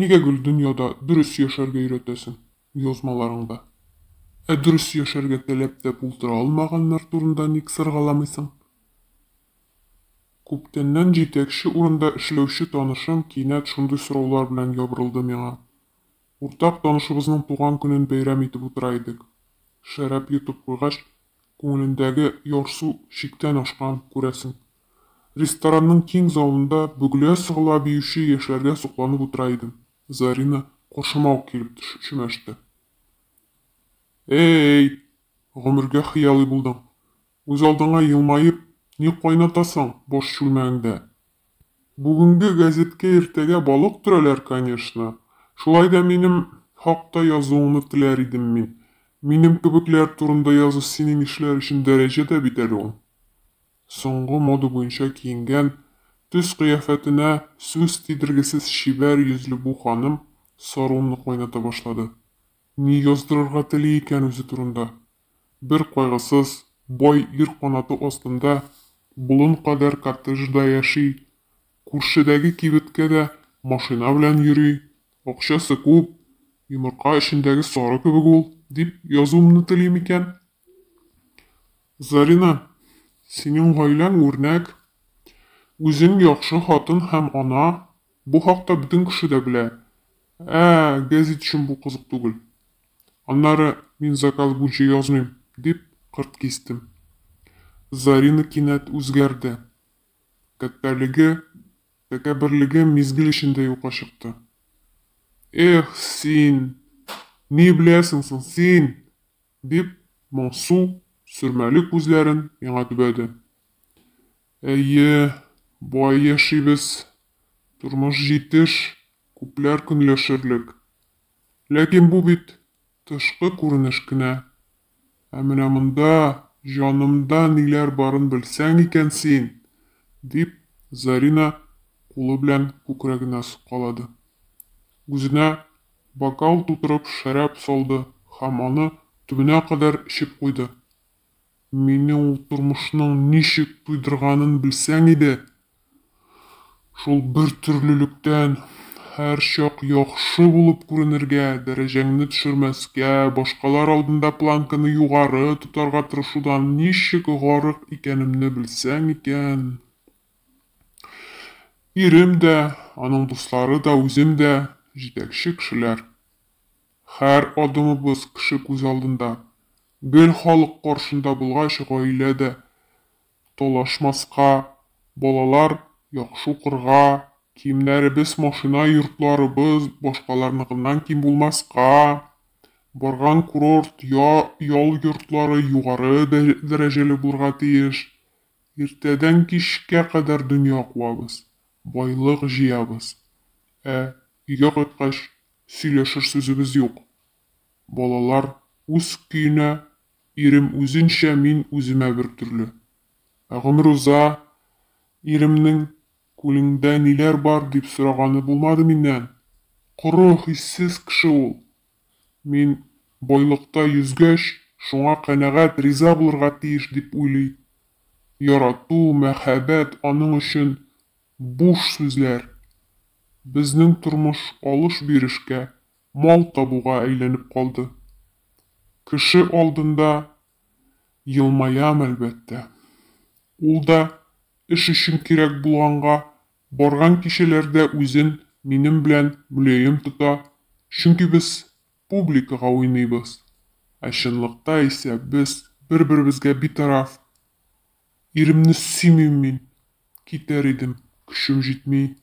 Нигә гел дөньяда дөрес яшәргә өйрәтәсең язмаларыңда? Ә дөрес яшәргә теләп тә булдыра алмаганнар турында ник сыргаламыйсың? Күптәннән җитәкче урында эшләүче танышым кинәт шундый сораулар белән ябырылды миңа. Уртак танышыбызның туган көнен бәйрәм итеп утыра идек. Шәраб йотып куйгач, күңелендәге ярсу чиктән ашкан, күрәсең. Ресторанның киң залында бөгелә-сыгыла биюче яшьләргә сокланып утыра идем. Зарина каршыма ук килеп төшеп чүмәште. Ә-әй! Гомергә хыялый булдың. Үзалдыңа елмаеп, ни кайнатасың баш чүлмәгеңдә? Бүгенге гәзиткә иртәгә балык төрәләр, конечно. Шулай да минем хакта язуыңны теләр идем мин. Минем кебекләр турында язу синең ишләр өчен дәрәҗә дә бит әле ул. Соңгы мода буенча киенгән, төс-кыяфәтенә сүз тидергесез чибәр йөзле бу ханым сарунны кайната башлады. Ни яздырырга тели икән үзе турында? Бер кайгысыз, бай ир канаты астында болын кадәр коттеджда яши, күршедәге кибеткә дә машина белән йөри, акчасы күп, йомырка эчендәге сары кебек ул, дип язуымны тели микән? Зарина, синең гаиләң үрнәк, үзең яхшы хатын һәм ана, бу хакта бөтен кеше дә белә. Ә гәзит өчен бу кызык түгел. Аннары, мин заказ буенча язмыйм, дип кырт кистем. Зарина кинәт үзгәрде. Тәкәббәрлеге, тәкәбберлеге мизгел эчендә юкка чыкты. Эх, син, ни беләсең соң син? Дип, моңсу, сөрмәле күзләрен миңа төбәде. Әйе, бай яшибез, тормыш җитеш, күпләр көнләшерлек. Ләкин бу бит тышкы күренеш кенә. Ә менә монда, җанымда ниләр барын белсәң икән син! дип, Зарина кулы белән күкрәгенә суккалады. Үзенә Бокал тутырып шәраб салды һәм аны төбенә кадәр эчеп куйды. Мине ул тормышның ничек туйдырганын белсәң иде! Шул бертөрлелектән, һәрчак яхшы булып күренергә, дәрәҗәңне төшермәскә, башкалар алдында планканы югары тотарга тырышудан ничек гарык икәнемне белсәң икән! Ирем дә, аның дуслары да, үзем дә, җитәкче кешеләр. Хәр адымыбыз кеше күз алдында. Гел халык каршында булгач, гаилә дә талашмаска, балалар яхшы укырга, киемнәребез, машина, йортларыбыз башкаларныкыннан ким булмаска, барган курорт, ял йортлары югары дәрәҗәле булырга тиеш. Иртәдән кичкә кадәр дөнья куабыз, байлык җыябыз. Ә өйгә кайткач, сөйләшер сүзебез юк. Балалар үз көенә, ирем үзенчә, мин үземә бер төрле. Ә гомер уза, иремнең, Күлеңдә ниләр бар? дип сораганы булмады миннән. Коры, хиссез кеше ул. Мин байлыкта йөзгәч, шуңа канәгать, риза булырга тиеш дип уйлый. Ярату, мәхәббәт, аның өчен буш сүзләр. Безнең тормыш алыш-бирешкә, мал табуга әйләнеп калды. Кеше алдында елмаям, әлбәттә. Ул да эш өчен кирәк булганга Барган кешеләр дә үзен минем белән мөлаем тота, чөнки без публикага уйныйбыз, ә чынлыкта исә без бер-беребезгә битараф. Иремне сөймим мин, китәр идем, көчем җитми.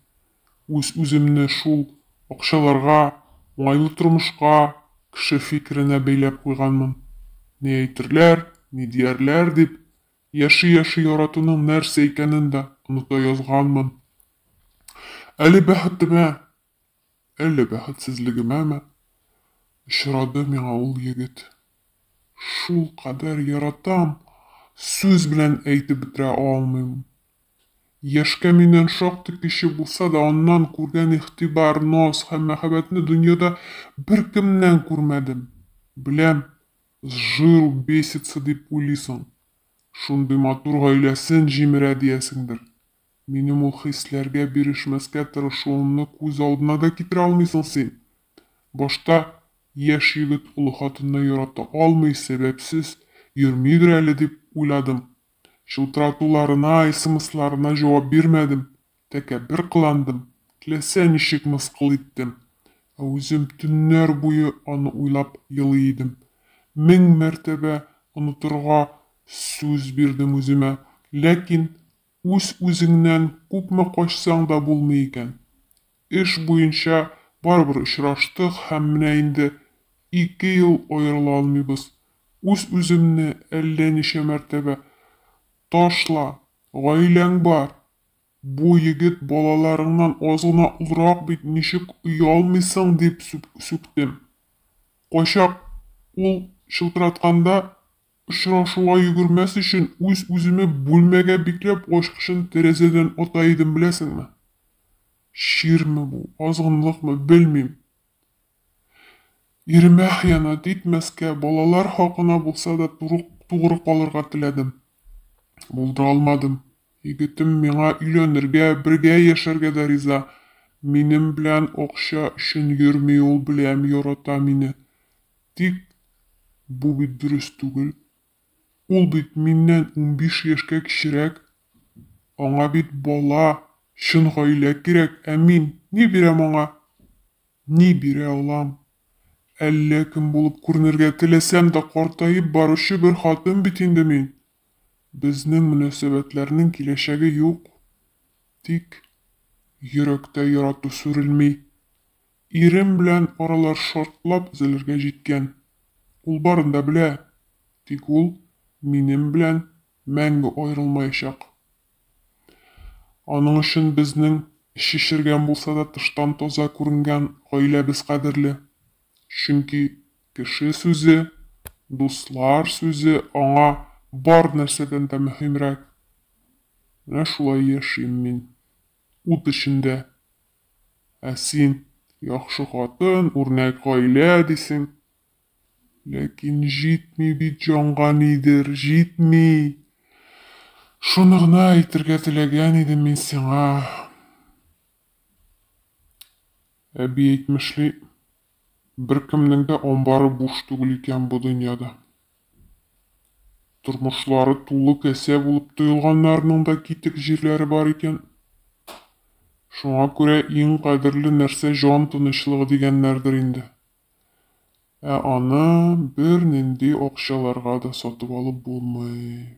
Үз-үземне шул акчаларга, уңайлы тормышка, кеше фикеренә бәйләп куйганмын. Ни әйтерләр, ни диярләр дип, Яши-яши яратуның нәрсә икәнен дә оныта язганмын. Әле бәхетемә, әллә бәхетсезлегемәме, очрады миңа ул егет. Шулкадәр яратам, сүз белән әйтеп бетерә алмыйм. Яшькә миннән шактый кече булса да, аннан күргән игътибар, наз һәм мәхәббәтне дөньяда беркемнән күрмәдем. Беләм, С жиру бесится дип уйлыйсың, шундый матур гаиләсен җимерә диясеңдер. Минем ул хисләргә бирешмәскә тырышуымны күз алдына да китерә алмыйсың син. Башта, яшь егет олы хатынны ярата алмый, сәбәпсез йөрмидер әле дип уйладым. Чылтыратуларына, смсларына җавап бирмәдем. Тәкәббер кыландым, теләсә ничек мыскыл иттем. Ә үзем төннәр буе аны уйлап елый идем. Мең мәртәбә онытырга сүз бирдем үземә. Ләкин үз-үзеңнән күпме качсаң да булмый икән. Эш буенча барыбер очраштык һәм менә инде ике ел аерыла алмыйбыз. Үз-үземне әллә ничә мәртәбә, Ташла, гаиләң бар, Бу егет балаларыңнан аз гына олырак бит, ничек оялмыйсың, дип сүктем. Кайчак ул чылтыратканда очрашуга йөгермәс өчен, үз-үземә бүлмәгә бикләп ачкычын тәрәзәдән ата идем, беләсеңме. Чирме бу, азгынлыкмы, белмим. Иремә хыянәт итмәскә, балалар хакына булса да тугры калырга теләдем. Булдыра алмадым. Егетем миңа өйләнергә, бергә яшәргә дә риза. Минем белән акча өчен йөрми ул, беләм, ярата мине. Тик бу бит дөрес түгел. Ул бит миннән унбиш яшькә кечерәк. Аңа бит бала, чын гаилә кирәк, ә мин ни бирәм аңа? Ни бирә алам? Әллә кем булып күренергә теләсәм дә, картаеп баручы бер хатын бит инде мин. Безнең мөнәсәбәтләрнең киләчәге юк, тик йөрәктә ярату сүрелми. Ирем белән аралар шартлап өзелергә җиткән. Ул барын да белә, тик ул минем белән мәңге аерылмаячак. Аның өчен безнең шешергән булса да тыштан таза күренгән гаиләбез кадерле, чөнки Кеше сүзе, дуслар сүзе аңа бар нәрсәдән дә мөһимрәк. Менә шулай яшим мин, ут эчендә. Ә син, яхшы хатын, үрнәк гаилә, дисең. Ләкин җитми бит җанга нидер, җитми. Шуны гына әйтергә теләгән идем мин сиңа. Әби әйтмешли. Беркемнең дә амбары буш түгел икән бу дөньяда. Тормышлары тулы касә булып тоелганнарның да китек җирләре бар икән. Шуңа күрә иң кадерле нәрсә җан тынычлыгы дигәннәрдер инде. Ә аны бернинди акчаларга да сатып алып булмый.